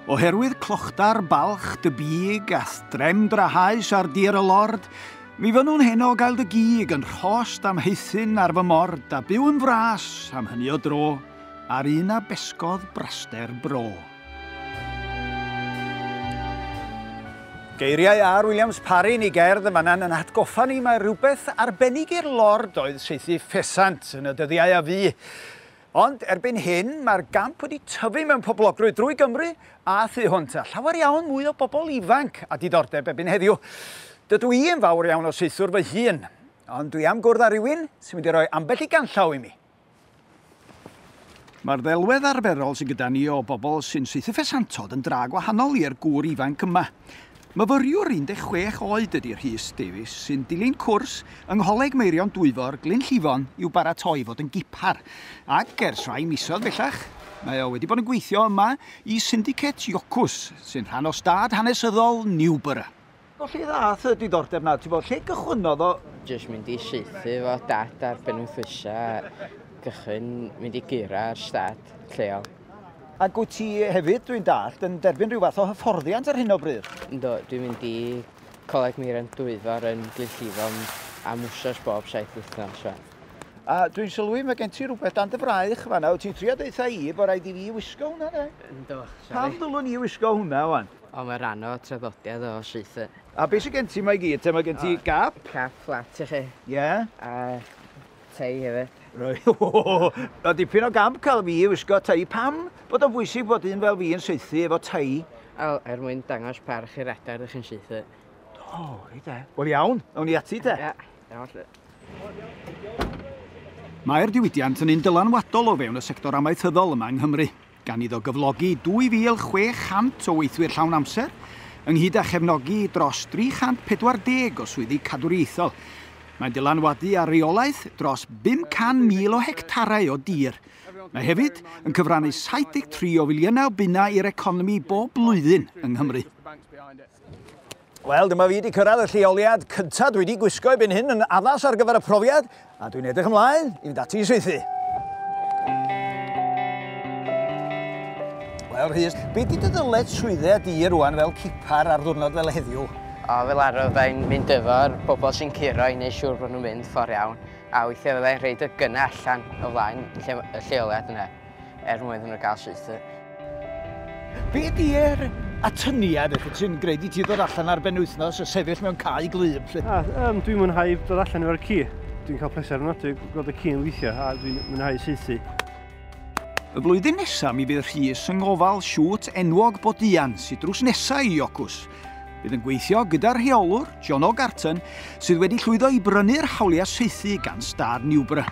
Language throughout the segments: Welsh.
Oherwydd clochdar balch dy big a threm drahaus ar dir y lord, mi fynnwn heno gael dy gig yn rhost am heithyn ar fy mord a byw yn fras am hynny o dro, ar un a besgodd braster bro. Geiriau Ar Williams Parry ni gerdd yn fan'na yn atgoffa ni mae rhywbeth arbennig i'r lord oedd saethu ffesant yn y dyddiau a fu. Ond erbyn hyn mae'r gamp wedi tyfu mewn poblogrwydd drwy Gymru a thu hwnt a llawer iawn mwy o bobl ifanc a diddordeb ebyn heddiw. Dydw i yn fawr iawn o saethwr fy hun, ond dwi am gwrdd â rhywun sy'n mynd i roi ambell i ganllaw i mi. Mae'r ddelwedd arferol sydd gyda ni o bobl sy'n saethu ffesantod yn dra gwahanol i'r gŵr ifanc yma. Myfyriwr 16 oed ydy Rhys Davies sy'n dilyn cwrs yng Ngholeg Meirion Dwyfor, Glyn Llifon i'w baratoi i fod yn gipar ac ers rhai misoedd bellach mae o wedi bod yn gweithio yma i Syndicate Jocws sy'n rhan o stad hanesyddol Newborough. O lle ddath y diddordeb na? Ti'n bod, lle gychwynnodd o? Jyst mynd i saethu fo dad ar benwythwysa, gychwyn mynd i gura ar stad lleol. Ac wyt ti hefyd, dwi'n dallt, yn derbyn rhyw fath o hyfforddiant ar hyn o bryd? Ynddo, dwi'n mynd i Coleg Meiran Dwyfor yn Glynllifon am wsos bob saith wythnos fan. A dwi'n sylwi, mae gen ti rhywbeth dan dy fraich fan yna. Wyt ti'n trio deutha i bod rhaid i fi wisgo hwnna, de? Ynddo, sori. Pam ddylwn i wisgo hwnna, wan? Ond mae rhan o traddodiad o Seithr. A beth sydd gen ti mae gyd? Te mae gen ti gap? Cap fflat i chi. Ie. Yeah. A tei hefyd. Roi. Mae dipyn o gamp cael fi i wisgo tei. Pam bod o'n bwysig bod un fel fi yn seithi efo tei? Wel, er mwyn dangos parch i'r adar ydych chi'n seithi. O, oh, reit e. Wel iawn, awn ni ati te. Ia, iawn lle. Mae'r diwydiant yn un dylanwadol o fewn y sector amaethyddol yma yng Nghymru. gan iddo gyflogi 2,600 o weithwyr llawn amser, ynghyd â chefnogi dros 340 o swyddi cadwriaethol. Mae'n dylanwadu ar reolaeth dros 500,000 o hectarau o dir. Mae hefyd yn cyfrannu 73 o filiynau o bunnau i'r economi bob blwyddyn yng Nghymru. Wel, dyma fi wedi cyrraedd y lleoliad cyntaf dwi wedi gwisgo i byn hyn yn addas ar gyfer y profiad, a dwi'n edrych ymlaen i fynd ati i saethu. Wel, Rhys, beth di dy ddyled swydde di rwan fel cipar ar ddwrnod fel heddiw? O, fel arfer fyddai'n mynd efo'r bobl sy'n curo i wneud siŵr bod nhw'n mynd ffordd iawn, a weithiau fyddai'n rhaid y gynnau allan o flaen lle, y lleoliad yna. er mwyn hwnnw gael syth. Be di er atyniad eich sy'n gwneud i ti ddod allan ar ben wythnos a sefyll mewn cae glib? Lle? A, um, dwi'n mwynhau dod allan efo'r ci. Dwi'n cael pleser yn odri gweld y ci yn weithio a dwi'n mwynhau seithi. Y flwyddyn nesaf mi fydd Rhys yng ngofal siwt enwog Bodian sydd drws nesaf i Iocws. Bydd yn gweithio gyda'r rheolwr, John O'Garton, sydd wedi llwyddo i brynu'r hawliau seithi gan Stad Newborough.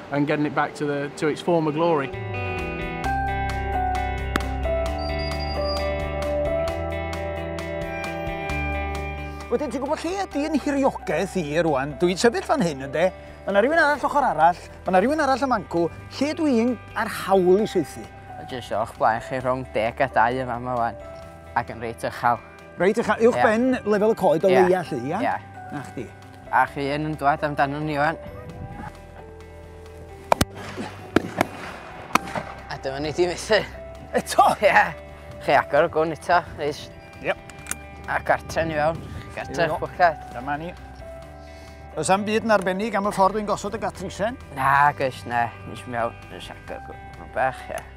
and getting it back to, the, to its former glory. Wedyn, ti'n gwybod lle ydy yn hiriogaeth i rwan? Dwi'n sefyll fan hyn, ynddo? Mae yna rhywun arall ochr arall, mae yna rhywun arall y mancw, lle dwi'n ar hawl i seithi? Jyst o'ch blaen chi rhwng deg a dau yma yma wan, ac yn reit ychal. Reit, a cha uwch ben lefel y coed o leia chi, ia? Ia. Na chdi. A chi yn yn dwad amdano ni o'n. A dyma ni di methu. Eto? Ia. Chi agor y gwn eto, reis. Ia. A gartre ni fewn. Gartre, bwcad. Dyma ni. Oes am byd yn arbennig am y ffordd dwi'n gosod y gatrisen? Na, gys, na. Nes mewn, nes agor gwn. Bach, ia.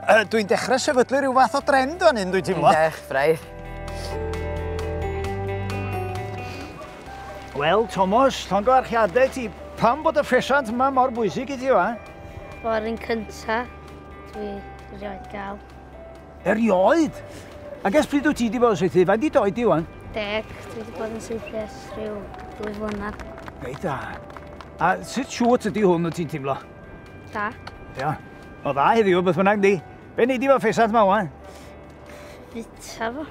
Uh, dwi'n dechrau sefydlu rhyw fath o drend o'n hyn, dwi'n teimlo. Dwi'n dechrau. Wel, Thomas, llongyfarchiadau ti. Pam bod y ffesiant yma mor bwysig i ti, wa? O'r un cynta, dwi rioed gael. Erioed? Ac ers pryd wyt ti wedi bod yn seithi? Faint i doi di, wan? Deg, dwi wedi bod yn seithi ers rhyw dwy flynedd. Reit da. A sut siwt ydy hwn wyt ti'n teimlo? Da. Ia. O dda heddiw, beth bynnag di. Be neud i fo ffesat ma wan? Bita fo.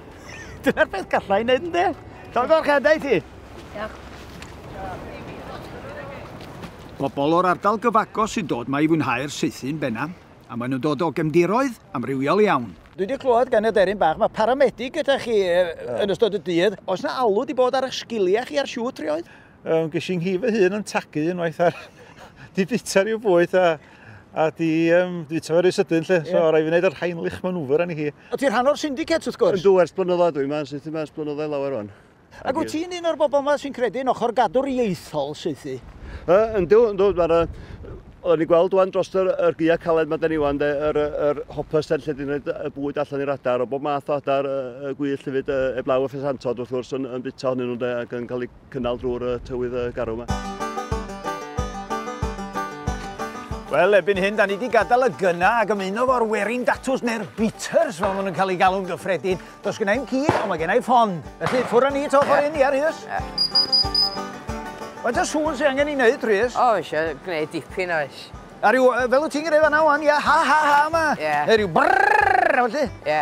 Dyna'r beth gallai i neud ynddi? Cael gorchedau ti? Diolch. Pobl o'r ardal gyfagos sy'n dod mae i fwynhau'r saethu'n benam, a maen nhw'n dod o gemdiroedd amrywiol iawn. Dwi wedi clywed gan y deryn bach, mae paramedig gyda chi yn ystod y dydd. Oes na alw wedi bod ar eich sgiliau chi ar siwt rioed? Um, ges i'n nghif fy hun yn tagu unwaith ar... di bita rhyw bwyd a, a di um, di bita fe rhyw sydyn lle. Yeah. So rai fi wneud yr heinlich manwfer yn hi. O ti'n rhan o'r syndicate wrth gwrs? Yn dwi ers blynyddoedd dwi'n ma'n syth yma ers blynyddoedd lawer rwan. Ac wyt ti'n un o'r bobl yma sy'n credu yn ochr gadw'r ieithol seithi? Yn dwi, yn dwi, mae'r Oedden ni gweld wan dros yr, yr gia caled mae dyn ni wan, yr, yr hoppers lle dyn ni'n y bwyd allan i'r adar, o bob math o adar, y, y gwyll hefyd, y, eblaw y ffesantod wrth gwrs yn, yn bita honyn nhw de, ac yn cael ei cynnal drwy'r uh, tywydd uh, garw yma. Wel, ebyn hyn, da ni wedi gadael y gyna ac ymuno fo'r werin datws neu'r beaters, fel maen nhw'n cael ei galw'n gyffredin. Does gen i'n cyd, ond mae gen i'n ffon. Felly, ffwr â ni to ffordd hyn, ia, Rhys? Faint o sŵn sy'n angen i wneud, Rhys? O, eisiau gwneud dipyn oes. A rhyw, fel wyt ti'n gwneud fanna wan, ia, ha ha ha yma. Ie. Neu rhyw brrrr, felly. Ie.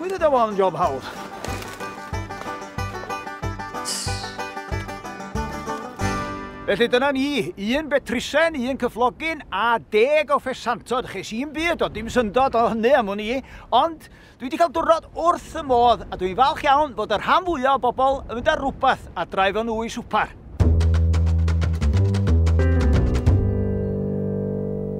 Wyd y dawel yn job hawdd. Felly dyna ni, un betrisen, un cyflogyn a deg o ffesantod. Ches i'n byd o dim syndod o hynny am hwn i, ond dwi wedi cael diwrnod wrth y modd a dwi'n falch iawn bod y rhan fwyaf o bobl yn mynd ar rhywbeth a draif o'n nhw i swpar.